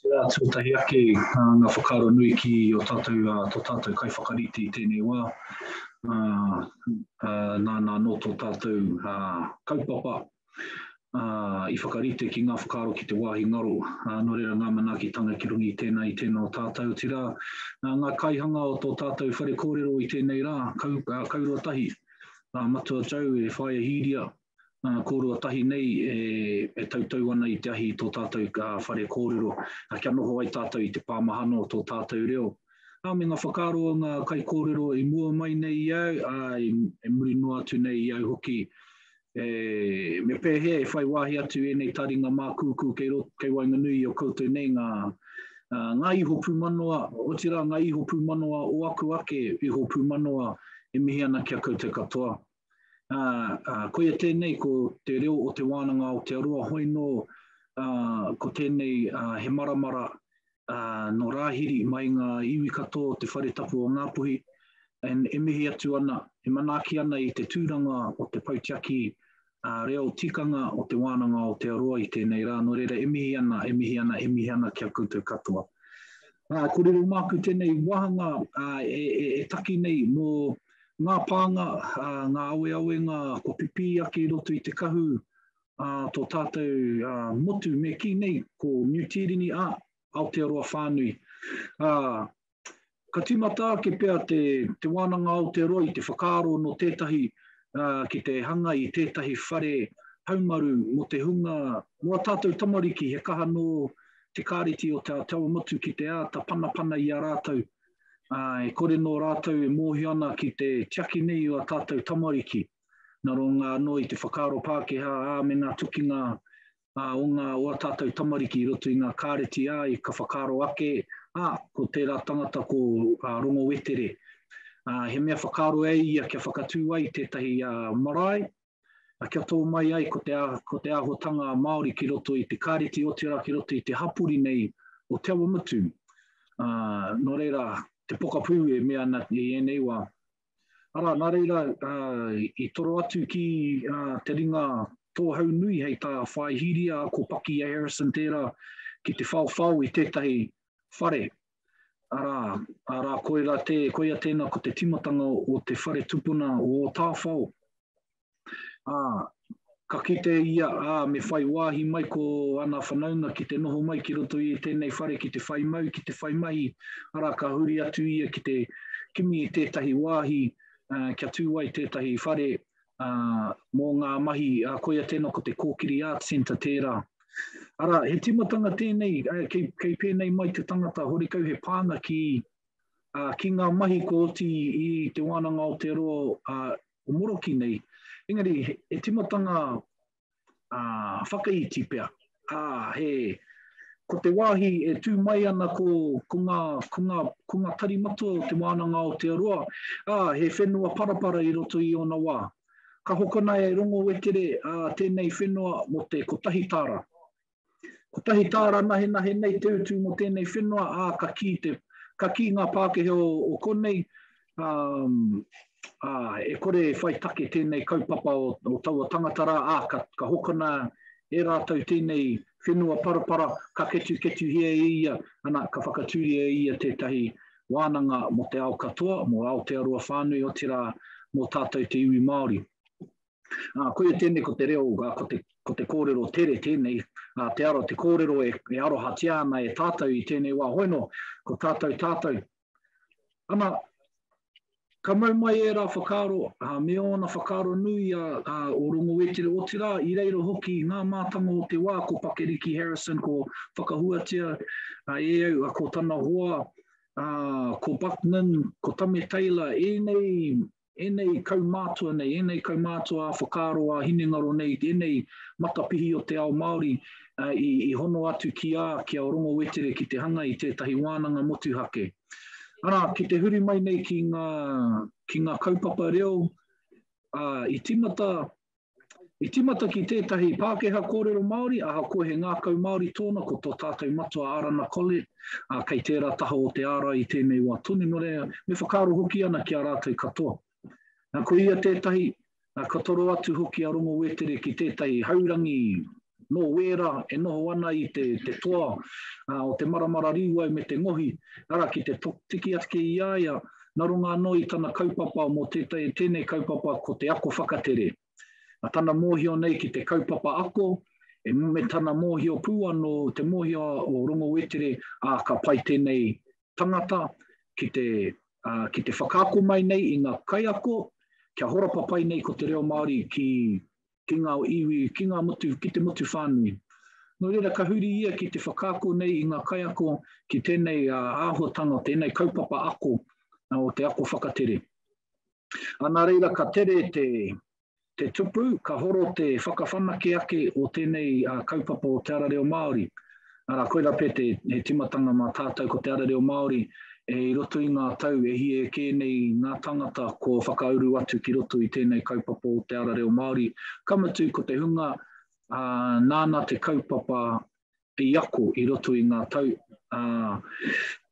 Tērā tuatahi ake ngā whakaaro nui ki o tātou, tō tātou kaiwhakarite i tēnei wā. Nāna anō tō tātou kaupapa i whakarite ki ngā whakaaro ki te wāhi ngaro. Nō reira ngā manaakitanga ki runga i tēnā, i tēnā o tātou, otirā ngā kaihanga o tō tātou whare kōrero i tēnei rā, kaua tahi, Matua Joe e whāia hīria, uh, kōrua tahi nei e, e tautau ana i te ahi i tō tātou ka whare kōrero, a kia noho ai tātou i te pāmahana o tō tātou reo. Nā, me ngā whakaaro o ngā kai kōrero i mua mai nei i au, a, i, e muri noa atu nei i au hoki, e, me pēhea e whai wāhi atu ēnei taringa mākūkū kei, rot, kei waenganui i o koutou nei ngā, uh, ngā iho pūmanoa, otirā ngā iho pūmanoa o aku ake iho pūmanoa e mihi ana ki a koutou katoa. Uh, koia tēnei ko te reo o te wānanga Aotearoa, hoi nō uh, ko tēnei uh, he maramara uh, no Rāhiri mai ngā iwi katoa o te whare tapu o Ngāpuhi, and e mihi atu ana, e manaaki ana i te tūranga o te pautiaki uh, reo tikanga o te wānanga Aotearoa i tēnei rā, no reira e mihi ana, e mihi ana, e mihi ana kia koutou katoa. Uh, ko riro māku tēnei wāhanga uh, e, e, e taki nei mō ngā pānga, uh, ngā aweawenga kua pipī ake i roto i te kahu uh, tō tātou uh, motu me kī nei ko New Tīrini a Aotearoa whānui. Uh, ka tīmata ake pea te, te wānanga Aotearoa i te whakaaro no tētahi uh, ki te hanga i tētahi whare haumaru mo te hunga, mo a tātou tamariki he kaha nō te kāreti o Te Autawa Motu ki te āta panapana i a rātou, ā, e kore nō rātou e mōhio ana ki te tiaki nei o a tātou tamariki, nā runga anō i te whakaaro Pākehā, ā, me ngā tukinga ā, o ngā o a tātou tamariki i roto i ngā kāreti, āe, ka whakaaro ake, ā, ko tērā tangata ko ā, Rongo Wetere, ā, he mea whakaaro e ia kia whakatū ai tētahi ā, marae, a kia tō mai ai ko te, ko te ahotanga a Māori ki roto i te kāreti otirā ki roto i te hapori nei o Te Awamutu. Uh, ah, nō reira, te pokapū e mea ana i ēnei wā. Ara, nā reira, uh, i toro atu ki uh, te ringa tōhau nui hei tā Whāihiria, ko Paki Harrison tērā, ki te whaowhao i tētahi whare Arā, arā, koira tē, koia tēnā ko te timatanga o te whare tupuna o Tāwhao. Ā, ka kite ia, ā, me whai wāhi mai ko ana whanaunga ki te noho mai ki roto i tēnei whare ki te whai mau, ki te whai mahi, arā, ka huri atu ia ki te kimi i tētahi wāhi, ā, kia tū ai tētahi whare, uh, mō ngā mahi, uh, koia tēnā ko te Kōkiri Art Centre tērā. Ara, he timatanga tēnei, uh, kei, kei pēnei mai te tangata horekau he pānga ki, uh, ki ngā mahi ko oti i te wānanga o te roa uh, o moroki nei. Engari, he, he timatanga uh, whakaiti pea. Uh, he, ko te wāhi e tū mai ana ko, ko, ngā, ko, ngā, ko ngā tari matua o te wānanga o te aroa, ā, he whenua parapara i roto i ona wā. Ka hokona e Rongo Wekere ā, tēnei whenua mō te kotahi tāra. Kotahi tāra nahenahe nei te utu mō tēnei whenua, ā, ka kī, te, ka kī ngā Pākehā o, o konei, um, ā, e kore e whai take tēnei kaupapa o, o taua tangata rā, ā, ka, ka hokona e rātou tēnei whenua parapara, ka ketuketuhia e ia, ana, ka whakatūria e ia tētahi wānanga mō te ao katoa, mō Aotearoa whānui, otirā, mō tātou te iwi Māori. Ā, koia tēnei ko te reo, ā, ko te, ko te kōrero tere tēnei, ā, te aro, te kōrero e, e arohatia ana e tātou i tēnei wā. Hoi nō, ko tātou, tātou. Ana, Ka mau mai ērā whakaaro, ā, me ōna whakaaro nui a, a o Rongowetere, otirā, i reira hoki i ngā mātanga o te wā ko Pakeriki Harrison, ko Whakahuatia, a e au, a ko tana hoa, a, ko Buckman, ko Tame Taylor, ēnei ēnei kaumātua nei, ēnei kaumātua ā whakaaro, ā hinengaro nei, ēnei matapihi o te ao Māori i, i hono atu ki a, ki a Rongo Wetere ki te hanga i tētahi wānanga motuhake. Arā, ki te huri mai nei ki ngā, ki ngā kaupapa reo, ā, i timata I tīmata ki tētahi Pākehā kōrero Māori, ahakoa he ngākau Māori tōna ko tō tātou matua Arana Collett, ā, kei tērā taha o te ārai i tēnei wā tonu, nō reira, me whakaaro hoki ana ki a rātou katoa. Nā, ko ia tētahi, nā, ka toro atu hoki a Rongo Wētere ki tētahi haurangi nō Wēra e noho ana i te te toa o te maramara rīwai me te ngohi, arā, ki te tiki ake i a ia, nā runga anō i tana kaupapa mō tētahi, tēnei kaupapa ko te ako whakatere. Nā tana mōhio nei ki te kaupapa ako, e me tana mōhio pū anō, te mōhio o Rongowetere, ā, ka pai tēnei tangata ki te, ā, ki te whakaako mai nei i ngā kaiako, kia horapa pai nei ko te reo Māori ki ki ngā iwi, ki ngā motu, ki te motu whānui. Nō reira, ka huri ia ki te whakaako nei i ngā kaiako ki tēnei āhuatanga, tēnei kaupapa ako o te ako whakatere. A nā reira, ka tere te, te tupu, ka horo te whakawhanake ake o tēnei kaupapa o Te Ara Reo Māori. Arā, koirā pea te, he timatanga mā tātou ko te ara reo Māori e i roto i ngā tau e hie kē nei ngā tangata kua whakauru atu ki roto i tēnei kaupapa o te ara reo Māori. Ka mutu ko te hunga ā, nāna te kaupapa i ako i roto i ngā tau ā,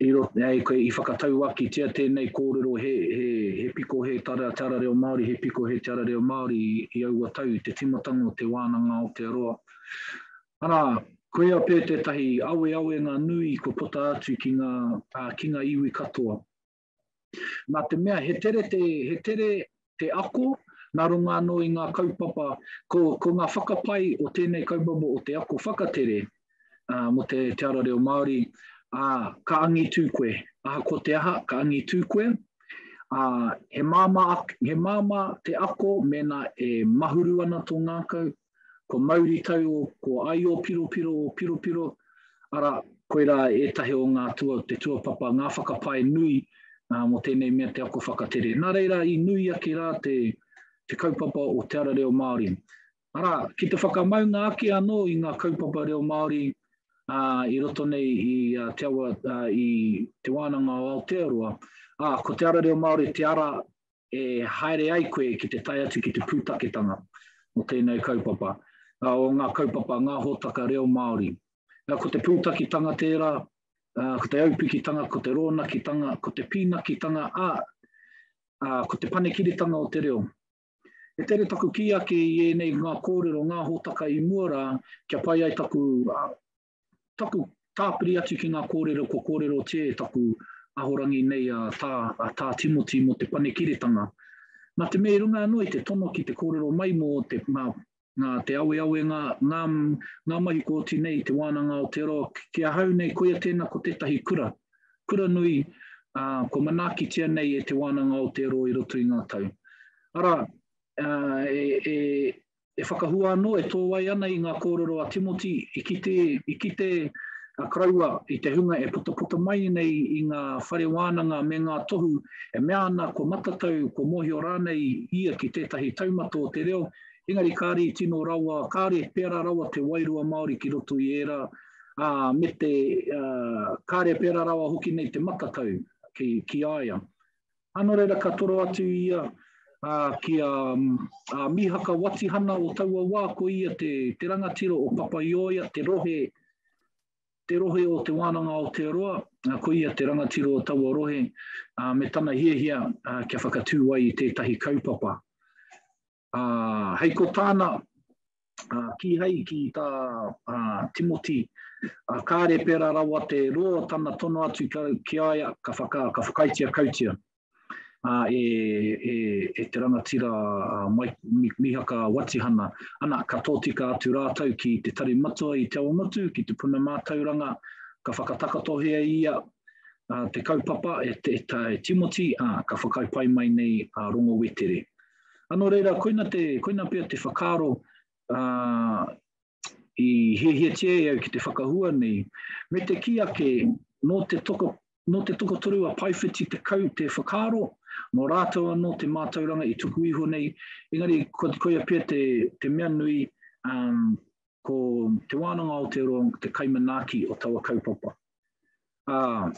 i, ro, ā, i whakatauakitia tēnei kōrero he, he, he piko he te ara, te ara reo Māori, he piko he te ara reo Māori i, i aua tau, te timatanga o te wānanga Aotearoa. Arā, koia pea tētahi aweawenga nui kua puta atu ki ngā, ā, ki ngā iwi katoa. Nā te mea he tere te, he tere te ako nā runga anō i ngā kaupapa, ko, ko ngā whakapae o tēnei kaupapa o te ako whakatere, ā, mō te, te ara reo Māori, ā, ka angitū koe. Ahakoa te aha, ka angitū koe. Ā, he māmā, he māmā te ako mēnā e mahuru ana tō ngākau, Ko Mauritau o, ko Aiōpiropiro o Piropiro, arā, koirā ētahi o ngā tua o te tuapapa, ngā whakapae nui ā, mō tēnei mea te ako whakatere. Nā reira, i nui ake rā te, te kaupapa o Te Ara Reo Māori. Arā, ki te whakamaunga ake anō i ngā kaupapa reo Māori ā, i roto nei i a, te awa, ā, i Te Wānanga o Aotearoa, ā, ko Te Ara Reo Māori te ara e haere ai koe ki te tae atu ki te pūtaketanga o tēnei kaupapa, o ngā kaupapa, ngā hōtaka reo Māori. Ko te pūtakitanga tērā, ko te aupikitanga, ko te rōnakitanga, ko te pīnakitanga, ā, ko te panekiritanga o te reo. E tere taku kī ake i ēnei ngā kōrero, ngā hōtaka i mua rā, kia pai ai taku taku tāpiri atu ki ngā kōrero, ko kōrero tē taku ahorangi nei a tā, a tā Timoti mō te panekiretanga. Nā te mea i runga anō i te tono ki te kōrero mai mō te, ngā, ngā te awe awe ngā, ngā, ngā mahi ko oti nei te wānanga o te roa ki ahau nei koia tēnā ko tētahi kura, kura nui ā, kua manaakitia nei e te wānanga o te roa i roto i ngā tau. Arā, ā, e, e, e whakahua anō, e tōai ana i ngā kōrero a Timoti, i kite, i kite a Karaua i te hunga e putaputa mai nei i ngā whare wānanga me ngā tohu, e mea ana kua matatau, kua mōhio rānei ia ki tētahi taumata o te reo, engari kāre tino rawa, kāre pērā rawa te wairua Māori ki roto i ērā, ā, me te, ā, kāre pērā rawa hoki nei te matatau ki, ki a ia. A nō reira ka toro atu ia ki a Mihaka Watihana o taua wā, ko ia te rangatira o Papaioea, te rohe, te rohe o Te Wānanga Aotearoa, ko ia te rangatira o taua rohe, me tana hiahia kia whakatū ai i tētahi kaupapa. Ā, hei ko tāna, ā, kīhai ki tā, ā, Timoti, ā, kāre pērā rawa te roa tana tono atu ki a, ki a ia, ka whaka, ka whakaaetia kautia, ā, e, e, e te rangatira, ā, Mai, Mi, Mihaka Watihana, ana, ka tōtika atu rātou ki te Tari Matua i Te Ao Motu, ki te Puna Mātauranga, ka whakatakotohia ia, ā, te kaupapa e, e, e Timoti, ā, ka whakaae pai mai nei a Rongo Wetere. Ano reira, koina, te, koina pea te whakaaro uh, i hiahiatia e au ki te whakahua nei, me te ki ake no te toko No te tokotoru a Paiwhiti te kau te whakaaro, no rātou anō te mātauranga i tuku iho nei, engari ko te koia pia te, te mea nui, um, ko te wānanga o te roa, te kaimanaaki o taua kaupapa. Uh,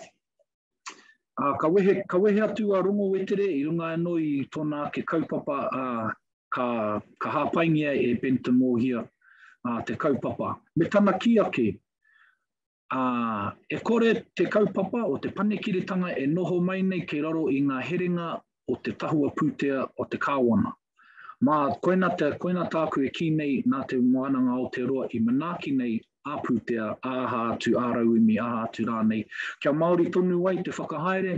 Ā, ka wehe, ka wehe atu a Rongowetere i runga anō i tōna ake kaupapa, ā, ka, ka hāpaingia e Benton Mōhia, ā, te kaupapa. Me tana kī ake, ā, e kore te kaupapa o te panekiretanga e noho mai nei kei raro i ngā herenga o te tahua pūtea o te Kāwana. Mā, koina, te, koina tāku e kī nei nā Te Wānanga Aotearoa i manaaki nei a pūtea, a aha atu, a rauemi, aha atu rānei, kia Māori tonu ai te whakahaere,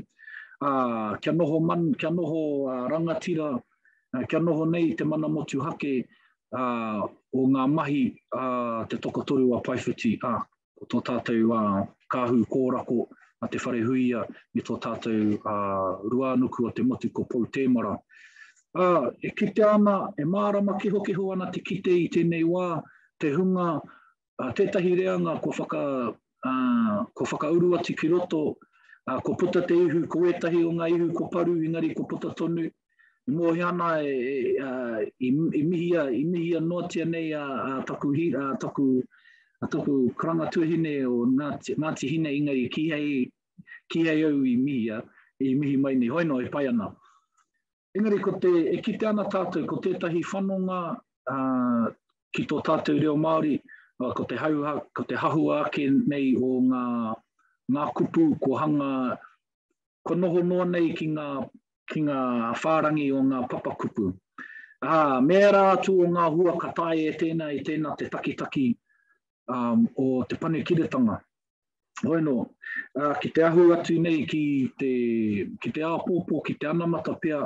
a, kia noho, man, kia noho a, rangatira, a, kia noho nei te mana motuhake a, o ngā mahi a te tokotoru a Paiwhiti. A, ko tō tātou a kāhu kōrako a te wharehuia me tō tātou a ruānuku o te motu ko Pou Tēmara. A, e kitea ana, e mārama kehokeho ana te kite i tēnei wā, te hunga, a, tētahi reanga ko whaka, a, ko whakauru atu ki roto, a, ko puta te ihu, ko ētahi o ngā ihu ko paru, engari ko puta tonu, I mōhio ana i mihia noatia nei a taku karanga tuahine o Ngāti Hine engari kīhei au i mihia, i mihi mai nei, hoi nō e pai ana. Engari ko te, e kite ana tātou ko tētahi whanonga ki tō tātou reo Māori, ko te hahua ake nei o ngā kupu kua hanga, kua noho noa nei ki ngā ki ngā whārangi o ngā papakupu. Ā, me ērā atu o ngā hua ka tae e tēnā i tēnā te takitaki um, o te panekiretanga. Hoi nō, uh, ki te ahu atu nei ki te, ki te āpōpō, ki te anamata pia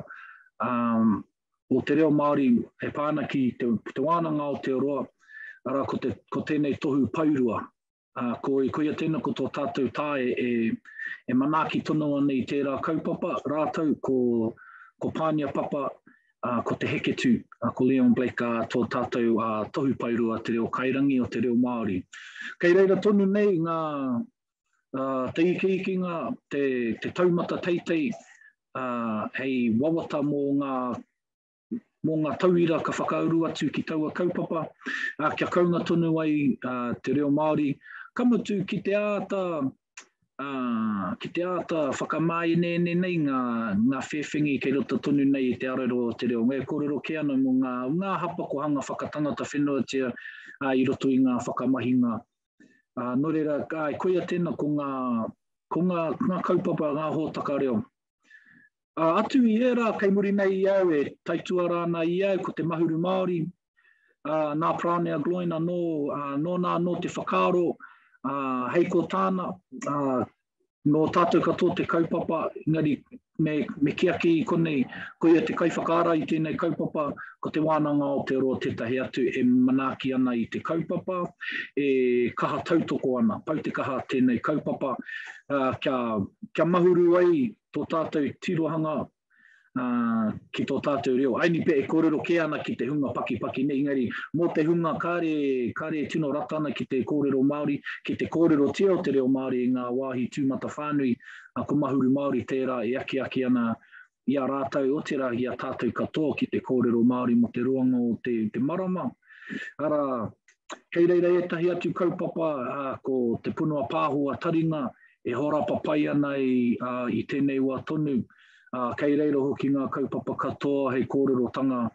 um, o te reo Māori e pāna ki te, ki te wānanga o te roa, ara ko, te, ko tēnei tohu pairua Ā, ko, koia tēnā ko tō tātou tae e, e manaaki tonu ana i tērā kaupapa rātou ko, ko Pānia Papa, ā, ko Te Heketū, ā, ko Leon Blake, ā, tō tātou ā, Tohu Paerua Te Reo Kairangi o te Reo Māori. Kei reira tonu nei ngā, ā, te ikiikinga, te, te taumata teitei, ā, hei wawata mō ngā mō ngā tauira ka whakauru atu ki taua kaupapa, ā, kia kaunga tonu ai ā, te reo Māori, ka mutu ki te āta ā, ki te āta whakamāeneene nei ngā, ngā whēwhengi kei roto tonu nei i te arero o te reo. E kōrero kē ana mō ngā, ngā hapa ko hanga whakatangata whenuatia ā, i roto i ngā whakamahinga. Ā, nō reira, āe, koia tēnā ko ngā, ko ngā, ngā kaupapa, ngā hōtaka reo. Ā, atu i ērā kei muri nei i au e taituara ana i au ko te Mahuru Māori, ā, nā Praonea Gloyne anō, ā, nōna anō te whakaaro, ā, hei ko tāna, ā, nō tātou katoa te kaupapa, engari me, me kī ake i konei, ko ia te kaiwhakaara i tēnei kaupapa, ko Te Wānanga Aotearoa tētahi atu e manaaki ana i te kaupapa, e kaha tautoko ana, pau te kaha tēnei kaupapa, ā, kia, kia mahuru ai tō tātou tirohanga uh, ki tō tātou reo. Ainipe e kōrero kē ana ki te hunga pakipaki nei, engari mō te hunga kāre, kāre tino rata ana ki te kōrero Māori, ki te kōrero tia o te reo Māori i ngā wāhi tūmata whānui, a ko Mahuru Māori tērā e aki aki ana i a rātou, o tērā i a tātou katoa ki te kōrero Māori mo te roanga o te, te marama. Ara, kei reira ētahi atu kaupapa, a, ko te punua pāho a taringa, e horapa pai ana i, uh, i tēnei wā tonu, uh, kei reiro hoki ngā kaupapa katoa hei kōrerotanga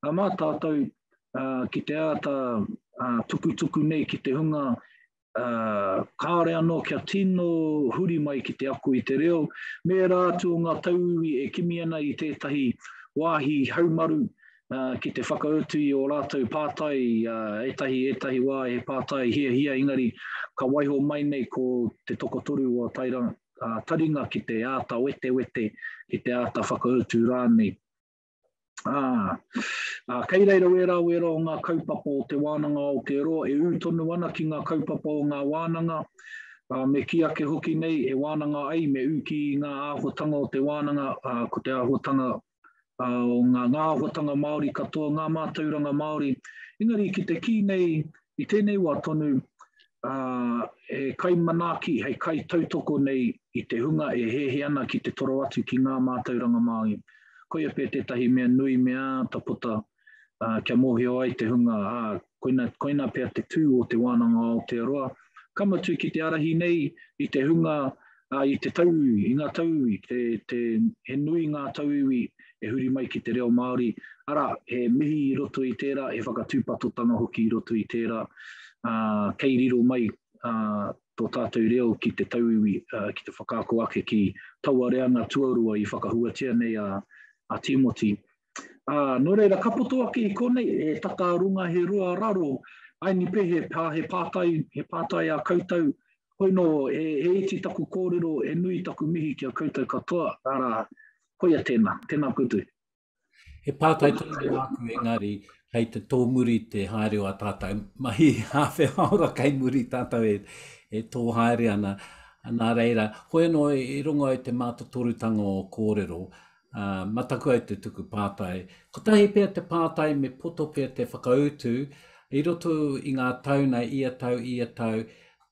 a mā tātou uh, ki te āta uh, tukutuku nei ki te hunga uh, kāore anō kia tino huri mai ki te ako i te reo, me rā atu o ngā tauiwi e kimi ana i tētahi wāhi haumaru uh, ki te whakautu i o rātou pātai, uh, etahi, etahi wā he pātai hia hia, engari ka waiho mai nei ko te tokotoru o tairanga, uh, taringa ki te āta wete wete, ki te āta whakautu rānei. Ah, ah, kei reira wērā wērā o ngā kaupapa o te wānanga o te roa, e ū tonu ana ki ngā kaupapa o ngā wānanga, Uh, me ki ake hoki nei e wānanga ai me uki i ngā āhuatanga o te wānanga, uh, ko te āhuatanga o ngā ngāohotanga Māori katoa, ngā mātauranga Māori. Engari ki te kī nei i tēnei wā tonu, uh, he kai manaaki, hei kai tautoko nei i te hunga e hehe ana ki te toro atu ki ngā mātauranga Māori. Koia pē tētahi mea nui me āta puta uh, kia mōhio ai te hunga, ā, uh, koina, koina pea te tū o te wānanga o Aotearoa. Ka mutu ki te arahi nei i te hunga, uh, i te tauiwi, i ngā tauiwi, te, te, he nui ngā tauiwi e huri mai ki te reo Māori. Ara, he mihi i roto i tērā, he whakatūpatotanga hoki i roto i tērā. Uh, kei riro mai uh, tō tātou reo ki te tauiwi, uh, ki te whakaako ake ki taua reanga tuarua i whakahuatia nei a, a Timoti. Ā, nō reira, ka poto ake i konei, he tata runga, he roa raro, ai nipe he pā, he pātai, he pātai ā koutou, hoi nō, he, he iti taku kōrero, he nui taku mihi ki a koutou katoa, arā, koia tēnā, tēnā koutou. He pātai tonu i a aku engari, hei te tōmuri te haere o a tātou mahi hāwhe haora kei muri tātou e, e tō haere ana, nā reira, hoi anō i rongo ai te mātotorutanga o kōrero, uh, mataku ai te tuku pātai. Kotahi pea te pātai me poto pea te whakautu i roto i ngā tau nei, ia tau, ia tau,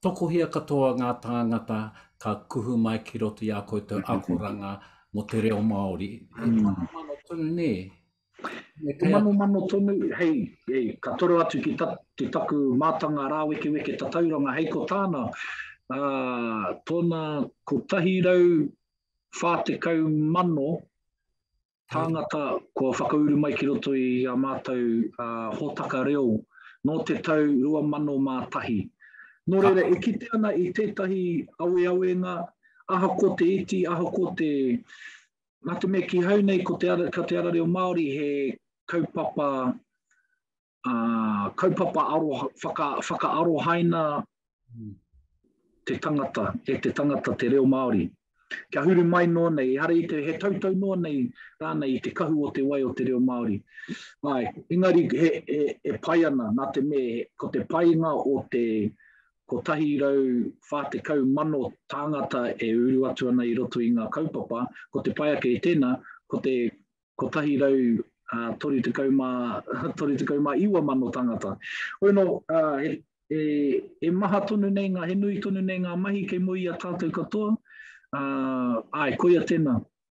tokohia katoa ngā tāngata ka kuhu mai ki roto i a koutou mm-hmm. akoranga mo te reo Māori. E mm. mano mano tonu nē. E mano mano tonu, hei, hei, ka toro atu ki, ta, ki taku mātanga rāweke weke tatauranga, hei ko tāna, uh, tōna ko tahi rau 40,000 tāngata kua whakauru mai ki roto i a mātou uh, hōtaka reo nō te tau 2001. Nō reira, e kite ana i tētahi aweawenga, aha ko te iti, aha ko te... Nā te mea ki hau nei, ko te ara, ko te ara reo Māori he kaupapa uh, kaupapa aro, whaka, whakaarohaina mm. te tangata, e te tangata te reo Māori. Kia huru mai noa nei, ehara i te, he tautau noa nei, rānei i te kahu o te wai o te reo Māori. Ai, engari, he, he, he pai ana, nā te me, ko te painga o te, ko tahi rau whā te kau mano tāngata e uru atu ana i roto i ngā kaupapa, ko te pai ake i tēnā, ko te 139,000 mano tangata. Hoi no, he maha tonu nei, he nui tonu nei nga mahi kei moe i a tatou katoa, ae, koia tena,